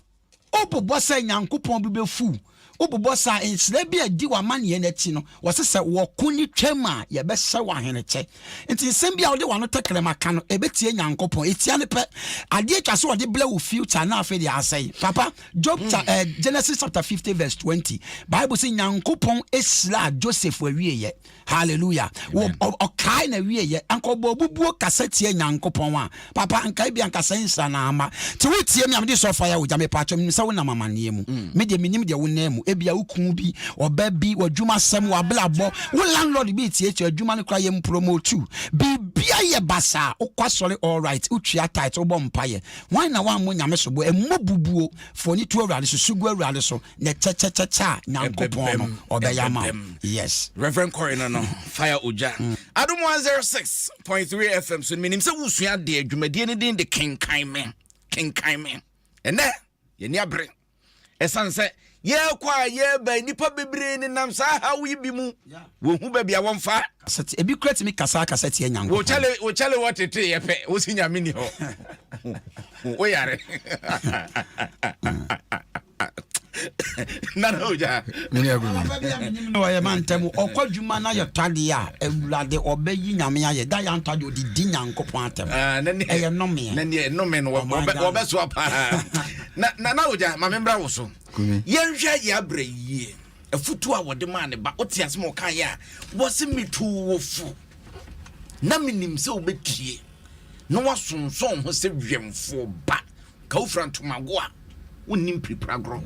Wobobɔ sɛ Nyankopɔn bo befuw? Wobobɔ saa? Nhyira bi a edi w'amanneɛ no akyi no, wɔse sɛ wɔko no twam a, yɛbɛhyɛ wo ahenekyɛ. Enti nsɛm bi a wode w'ano tɛkrɛma ka no, ebetia Nyankopɔn? Etia no pɛ. Ade atwa so a ɔde brɛ wo future na afei de asɛe. Papa, Job cha eh, Genesis chapter fifty verse twenty, Bible se Nyankopɔn hyiraa Joseph awieɛ. hallelujah ɔkae na wieɛ ankɔbɔ bubuo kasa tie nyankopɔn a papa nkae bi ankasa nsira na ama nti wotie me a mede sɔ fire wogya mepa atwam nim sɛ wonam amanneɛ mu mm. me deɛ menim deɛ wonam mu ebia wo ku bi ɔba bi w'adwuma sɛm w'abrabɔ wo landlord bi tietie adwuma no kora yɛ mpromotu biribia yɛ basaa wokɔ asɔre all right wotwia tight wobɔ mpayɛ wan na woammɔ nyame soboɔ ɛmmɔ bubuo fɔni to awurade so sugu awurade so ne kyɛkyɛkyɛkyɛ a nyankopɔn no ɔbɛyɛ ama wo yes reverend kɔre no no fire ogya mm. adom 106.3 fm so menim sɛ wosua deɛ dwumadie no din de kenkan me kenkan me ɛnɛ yɛni abere ɛsiane sɛ yɛkɔ a yɛba nnipa bebree nenam saa haw yi bi mu wɔhu baabi a wɔmfa ebi kura tumi kasa kasa tiɛ nyankopɔnwokyale wɔtete yɛ pɛ wosi nyame ni hɔ woyare nana ogya mene agu no na ɔyɛ ma ntɛm ɔkɔ adwuma na yɛ twadeɛ a awurade ɔbɛyi nyame ayɛ da yɛ antwadeɛ ɔde di nyankopɔn atɛm ah, ɛyɛ nnomeɛ na neɛ nnome no wɔbɛsoa paa nana ogya ma membra wo so yɛnhwɛ yɛ abrɛ yie afutuo a wɔde maa ne ba wote ase ma ɔkaeɛ a wɔse metoo wo fo na menim sɛ wobɛtie na wasonsɔn ho sɛ wɛmfoɔ ba Ka wofira ntoma goa a, wonni mpiripiragorɔ.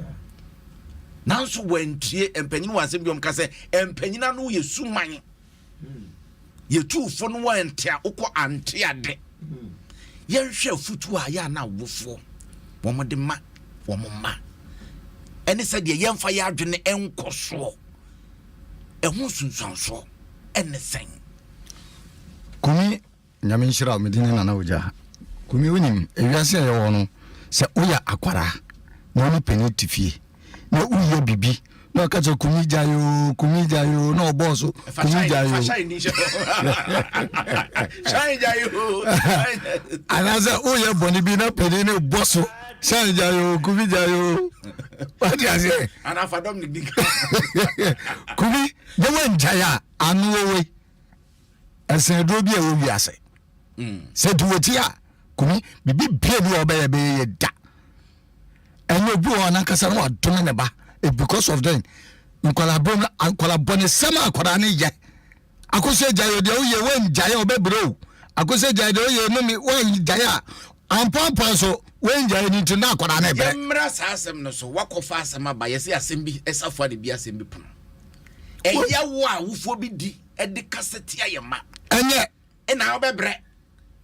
Nanso wɔantie mpanyin wɔ asɛm bi wɔn ka sɛ mpanyin ano yɛ suman. Yɛtuufo no wɔ nte a wokɔ ante ade. Yɛnhwɛ afutuo a yɛ a na awofoɔ wɔn de ma wɔn mma. Ɛne sɛ deɛ yɛnfa yɛ adwene nkɔ soɔ. Ɛho nsunsuansoɔ ɛne sɛn? Kumi Nyame nhyira wo, me din ne Nana Ogya. Kumi wonim, ewiase a yɛwɔ no, sɛ woyɛ akwaraa na wo ne panin te fie na woyɛ biribi na ɔka kyerɛ kumi gya yoo kumi gya yoo na ɔbɔɔ so kumi gya yoo anaasɛ woyɛ bɔne bi na panin no bɔ so hyɛn gya yoo kumi gya yoo wate aseɛ kumi na woangyae a ano wɔwei ɛsɛn aduro bi a ɛwɔ wiase mm. sɛ nti wɔti a kumi biribi bia bi a ɔbɛyɛ bɛyɛ yɛ da ɛnyɛ obi wɔ anankasa no wadome ne ba eh, because of then nkwadaa bɔ no nkwadaa bɔ ne sɛm a nkwadaa ne yɛ akosɛ gya yɛ deɛ woyɛ wɔngyaeɛ ɔbɛbrɛ o akosɛ gya yɛ deɛ woyɛ no me wɔngyaeɛ a ampɔmpɔn so wɔngyaeɛ no nti na akwadaa ne brɛ yɛmmra saa asɛm no so wakɔfa asɛm aba yɛsɛ asɛm bi ɛsafoa ne bi asɛm bi pono ɛyɛ wo a wofoɔ bi di de kasa tia yɛn mma. Ɛnyɛ na wobɛbrɛ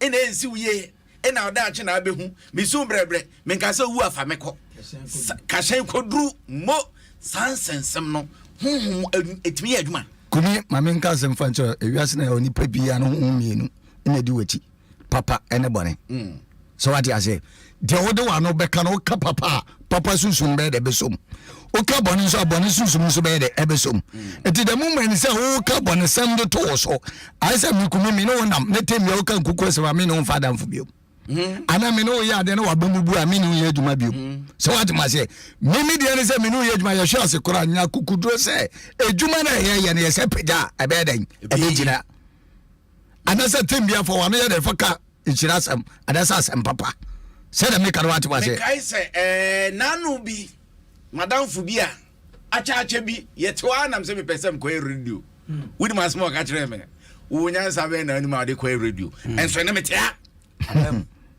na ɛnsi wo yie na ɔdaakye na abɛhu mesu brɛbrɛ menka sɛ wu afa me kɔ kahyɛn kɔduru mo saa nsɛnsɛm no honhom ɛtumi yɛ adwuma kumi ma menka asɛm fa nkyerɛ ewiase na yɛwɔ nipa biara no honhom mmienu na ɛdi w'akyi papa ne bɔne sɛ wate aseɛ deɛ wode wano bɛka no woka papa a papa sunsum bɛyɛ dɛ bɛsom woka bɔne nso a bɔne sunsum nso bɛyɛ dɛ ɛbɛsom ɛti dɛ moma ni sɛ woka bɔnesɛm de to wo so ayɛ sɛ mekumi me ne wo nam ne temmea woka nkuku asɛm a me ne wo mfa adamfo biom Mm-hmm. ana me ne woyɛ adeɛ na wabɔ mu bu a me ne woyɛ adwuma bio mm-hmm. sɛ woatema sɛ meme deɛ ne sɛ me ne woyɛ adwuma yɛhwɛ ase kora nya kukuduro sɛ adwuma no ɛyɛyɛ no yɛ sɛ pagya a ɛbɛyɛ dɛn ɛbɛgyina anaasɛ tem bia fa wano yɛ dɛ fa ka nhyira asɛm anaasɛ asɛm papa sɛdeɛ meka no wate waseɛ mekae sɛ eh, naano bi madamfo bi a akyɛakyɛ bi yɛtew a nam sɛ mepɛ sɛ mekɔyɛ radio hmm. wonim asɛm a ɔka kyerɛɛ me wo nyansa bɛn na anim a wode kɔyɛ radio hmm. ɛnso ɛne mete ha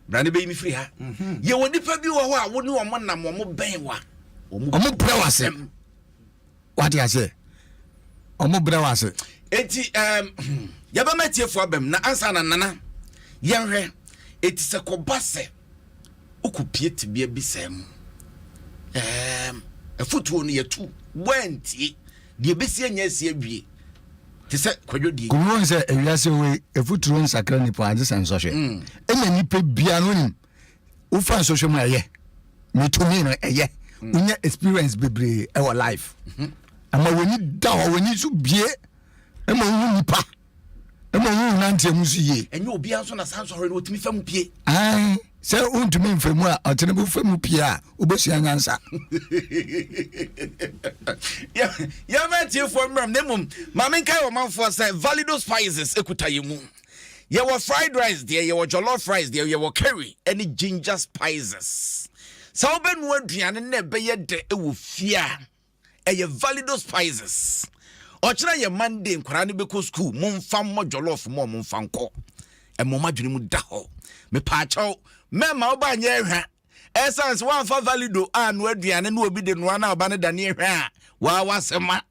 bra ne bɛyi me firi ha hmm. yɛwɔ nnipa bi wɔ hɔ a wo ne ɔmo nam ɔmo bɛn wa ɔmo brɛ w'asɛm wate aseɛ ɔmo brɛ wo ase enti um, yɛbɛma atiefoɔ abam na ansa na nana yɛnhwɛ ɛti sɛ kɔba sɛ wokɔpie tebea bi sɛ mu um, afotuo no yɛtu woantie deɛ ɛbɛsi anya asi awie te sɛ kwadwodie kɔmuhu sɛ awiase wei ɛfoturo nsakra nipa agye sɛ nsɔhwɛ ɛna mm. nipa bia no nim wofa nsɔhwɛ mu a ɛyɛ metumi no ɛyɛ mm. wonya experience bebree ɛwɔ life mhm. ama w'ani da hɔ w'ani so bie ɛma wohu nipa ɛma wohu nanteɛ mu so yie ɛnyɛ obiara nso na saa nsɔhwɛ no ɔtumi fa mu pie ae sɛ wontumi mfa mu a ɔtene bɛfa mu pie a wobɛsua nyansa yɛma atiefoɔ mmerɛm na mmom ma menkae ɔmanfoɔ sɛ valido spices ɛkuta yɛ mu Yɛwɔ fried rice deɛ, yɛwɔ jollof rice deɛ, yɛwɔ curry ɛne ginger spices. Sɛ wobɛnu aduane na ɛbɛyɛ dɛ ɛwɔ fie a, ɛyɛ valido spices. Ɔkyerɛ yɛ Monday nkwaraa no bɛkɔ sukuu, momfa mmɔ jollof mmɔ ɔmo mfa nkɔ. Ɛmɔ m'adwene mu da hɔ. Mepaakyɛw, mɛma wo ba nyɛ ɛhwa. Ɛsan sɛ woamfa valido annoa aduane na obi de noa na ɔba no dane ɛhwa a, waa w'asɛm a.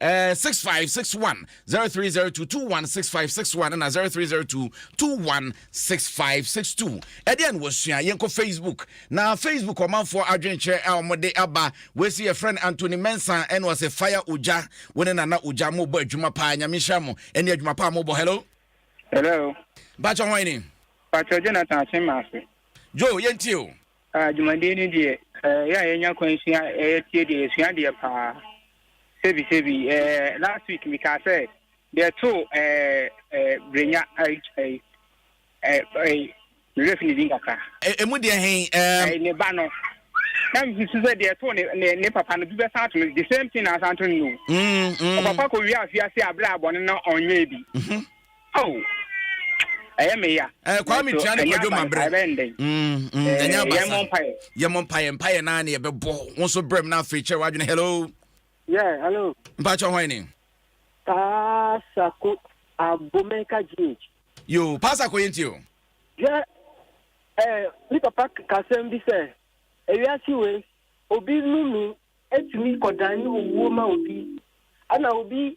Eh, six five six one zero three zero two two one six five six one na zero three zero two two one six five six two. Ɛdeɛ na wɔsua yɛn kɔ Facebook na Facebook ɔmanfoɔ adwenkyerɛ a wɔde aba wɔsi yɛ friend Anthony Mensah ɛna ɔsɛ fire ogya wo ne nana ogya mo bɔ adwuma paa nyame nhyira mo ɛne adwuma paa mo bɔ hello. Hello. Bàtchɛ hɔn ni. Bàtchɛ Jonathan Akyemase. Joe yɛn tie o. Ah, dwumadie no deɛ, eh, yɛ a yɛnya kwan sua, eh, yɛtie deɛ, yɛsua deɛ paa. Sebi, sebi, eh, last week mekaa sɛ, deɛ too, eh, eh, Brenya, eh, eh, eh, eh, mewerɛ fi ne din kakra. Ɛmu e, deɛ hen, eh. Eh, ne ba no. Na mesusu sɛ deɛ too ne, ne, ne papa no, bi bɛsan ato no, the same thing na asan to no. Mm, mm. Ɔpapa kɔ wie afiase aberɛ a bɔne no ɔnyɛɛ bi. Mm -hmm. Oh, ɛyɛ me ya. Eh, Kwame tua ne kwadwo ma brɛ. Mm, mm, eh, ɛnyɛ abasa. Yɛmɔ mpaeɛ. Yɛmɔ mpaeɛ, mpaeɛ naa ne yɛbɛbɔ. Wo nso brɛ mu na afei kyerɛ w'adwene. Hello. Yeah, hello. Mpakyɛ hwan ni? Pasako Abomeka GH. Yo, Pasako yɛ nti o. Yeah, eh, ni papa kasɛm bi sɛ, ewiase wei, obi nunu etumi kɔdan owuo ma obi, ana obi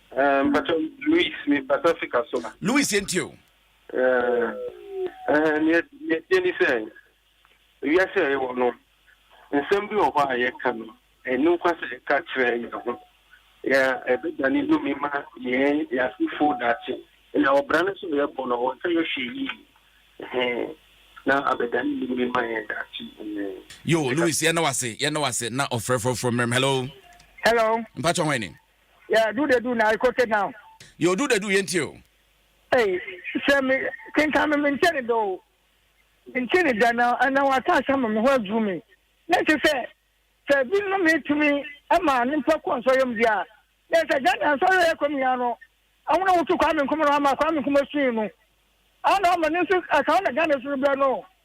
Eh, mpacho Luis, me pasa fika so a. Luis yɛ ntie o. Eh, eh, neɛ neɛ tie ni sɛ, wiase a yɛwɔ no, nsɛm bi wɔ hɔ a yɛka no, ɛno kwa sɛ yɛka kyerɛ yɛn ho, yɛ ɛbɛdane numi ma yɛn yɛ asefo daakye. Na ɔbra no nso yɛbɔ no, wɔnka yɛ hwee yie, eh, na abɛdane numi ma yɛn daakye, eh. Yo, Luis, yɛn na wase, yɛn na wase, na ɔfrɛ frɔfrɔ mmerɛm, hello. Hello. Mpacho hwan ni? Yeah, do the do now, go sit down. Yo, do the do, yɛn tie o. Hey, sɛ me kenkan me mente ne dɔ o. Mente ne da na na wata asɛm ma me ho aduru me. Na ɛte sɛ sɛ bi no me tumi ma ne mpɛ kɔ nsɔyɛm di a. Na sɛ gya na nsɔyɛ yɛ kɔm yɛn no. Ɛho na wotu kwa me nkoma no ama kwa me nkoma sui no. Ana ama ne nso akaw na gya ne so bɛ no.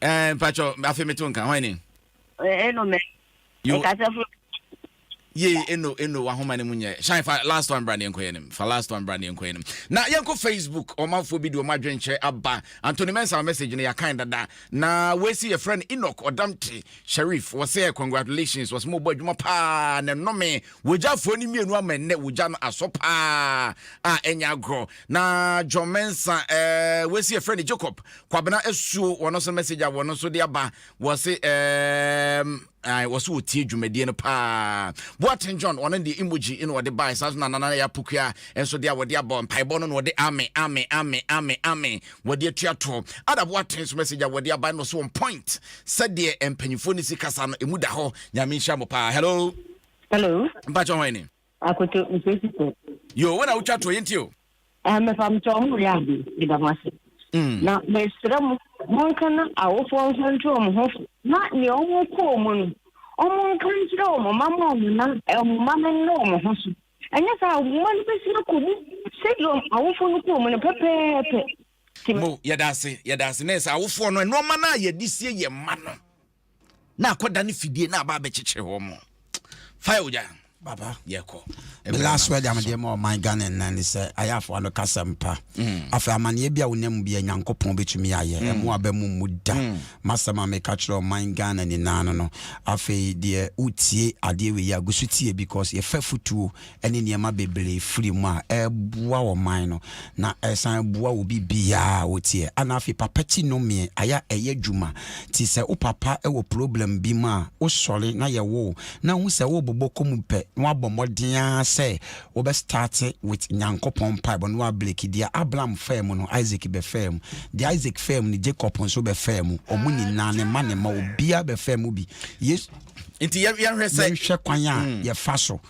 Ɛɛ eh, mpatsɔ afei mi to nka hɔn ni. Eh, eno mɛ. Yo. Nkasa furu. Yee eno eno wahoma ne mu nyɛ. Shine fa last one bra ne nkɔ yɛn Fa last one bra ne nkɔ yɛn Na yɛn kɔ Facebook ɔmanfoɔ bi de ɔmo adwenkyerɛ aba. Anthony Mensah message no yɛakan dada. Na wɔasi yɛfrɛ no Enoch Ɔdamte Sharif. Wɔsɛ congratulations wɔsɛ mo bɔ adwuma paa na nnome. Wɔgyafoɔ no mmienu ama nnɛ wɔgya no asɔ paa a ɛnyɛ agorɔ. Na John Mensah eh, wɔasi yɛfrɛ no Jacob Kwabena asuo wɔno nso message a wɔno nso de aba wɔse ɛɛm ae wɔse wɔtie dwumadie no paa Boaten John wɔno deɛ emoji na wɔde bae saa nso na nana yɛ apokua nso deɛ a wɔde abɔ mpaebɔ no na wɔde ame ame ame ame ame wɔde atua toɔ Ada Boaten nso message a wɔde aba no so on point sɛdeɛ mpanyinfoɔ ne si kasa no emu da hɔ nyame nhyira mo paa hello hello mpakyɛ hɔn ni. Akoto nkwesi kɔ. Yoo wona wotwa toɔ yɛntie o. Eh mepa mo kyɛw ɔmo reyɛ ade meda mo ase mm. Na mesrɛ mo monka na awofoɔ nso nto ɔmo ho fo na nea ɔmo kɔ ɔmo no ɔmo nka nkyerɛ ɔmo ma mo ɔmo na ɔmo ma no nna ɔmo ho so ɛnyɛ saa ɔmo ma no bɛsi akɔ mu sɛdeɛ ɔmo awofoɔ no kɔ ɔmo no pɛpɛɛpɛ. Mo yɛda ase yɛda ase na ɛsɛ awofoɔ no nnoɔma no a yɛde sie yɛ mma no. na akɔda ne fidie na aba abɛkyekyere hɔ mo fa ogya papa yɛkɔ me last word am deɛ ma ɔman ghana nna ne sɛ ayafoɔ no kasɛ mpa mm. afei amanneɛ bi a wonam mu bia nyankopɔn bɛtumi ayɛ mm. ɛmo aba mu mu da mm. masɛm a meka kyerɛ ɔman ghana nyinaa no no afei deɛ wotie adeɛ wei a gu so tie because yɛfa futuo ne nneɛma bebree firi mu a, ɛboa ɔman no, na ɛsan boa obi biara a ɔteɛ. Ana afei papa ti no mmee, ayɛ a ɛyɛ adwuma. Ti sɛ wo papa wɔ problem bi mu a, wosɔre na yɛ wo, na hu sɛ worebobɔ kɔ mu pɛ, na wabɔ mmɔden ara sɛ wobɛ starte with Nyankopɔn mpaebɔ na wabreki. Deɛ Abram faa mu no, Isaac bɛfaa mu. Deɛ Isaac faa mu no, Jacob nso bɛfaa mu. Wɔn nyinaa, ne mma ne mma, obiara bɛfaa mu bi. Yesu. Nti yɛnhwɛ sɛ. Yɛnhwɛ kwan a yɛfa so.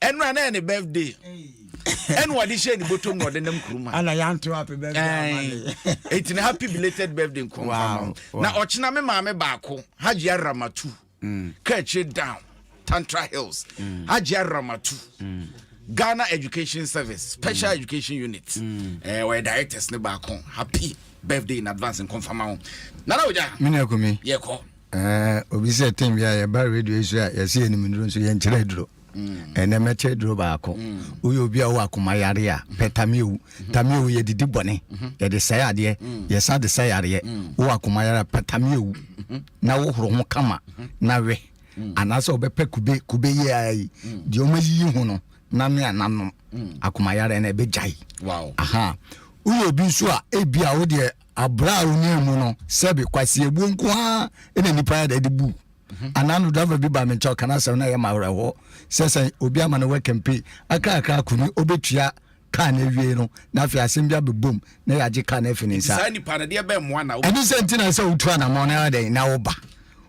ɛno a na yɛ ne birthday ɛna ɔde hyɛ ne bɔtɔm na ɔde nam kurom ha ɛna yɛanto happy birthday ɛti na happy belated birthday nkɔmfama na ɔkyena me maame baako hagye aramatu mm. kakyire down tantra hills mm. hagye aramatu mm. ghana education service special mm. education unit mm. eh, ɔyɛ directors ne baako happy birthday in advance nkɔmfama ho nana ogya mene akumi yɛkɔ Ɛɛ obi sɛ tem bi a yɛba radio yi so a yɛsɛ yɛ nim duro nso yɛn kyerɛ aduro. Mm. Ɛnɛ mɛkyɛ aduro baako. Mm. Woyɛ obi a wɔ akoma yare a mm-hmm. pɛ tamiewu. Mm-hmm. Tamiewu yɛ didi bɔne. Mm-hmm. Yɛde sɛ adeɛ. Mm. Yɛsa de sɛ yareɛ. Wɔ akoma yare a pɛ tamiewu. Na wohoro ho kama na wɛ. Anaasɛ wɔbɛpɛ kube kube yɛ ara yi. Deɛ wɔn ayiyi ho no nanu a nanom. Akoma yare na ɛbɛgyae. Aha. Woyɛ obi nso a ebi a wodeɛ Abere a onii mu no, sɛbi kwasiabuo nko ara na nipa yɛ de bu. Mhm. Anaa no driver bi ba me nkyɛn ɔka n'asɛm na yɛ ma awerɛhoɔ sɛ sɛ obi ama no work and pay akrakra ko ni ɔbɛtua kaa no awie no na afei asɛm bi abɛbom na yɛagye kaa no afi ne nsa. Ɛne sɛ nti na sɛ wotu anammɔn no ara dɛn na woba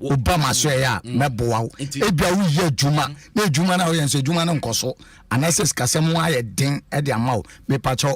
woba ma so ɛyɛ a mm. mɛboa wo ebia woyɛ adwuma mm. na adwuma no a woyɛ nso adwuma no nkɔ so anaasɛ sikasɛm ho ayɛ den de ama wo mepakyɛw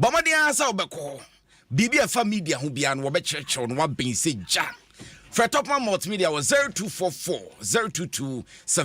Bɔ mmɔden ara sɛ wobɛkɔ hɔ. Biribi a ɛfa media ho biara no, wɔbɛkyerɛkyerɛ wo na woabɛn sɛ gya. Frɛ Topman Multimedia wɔ 0244 022 7.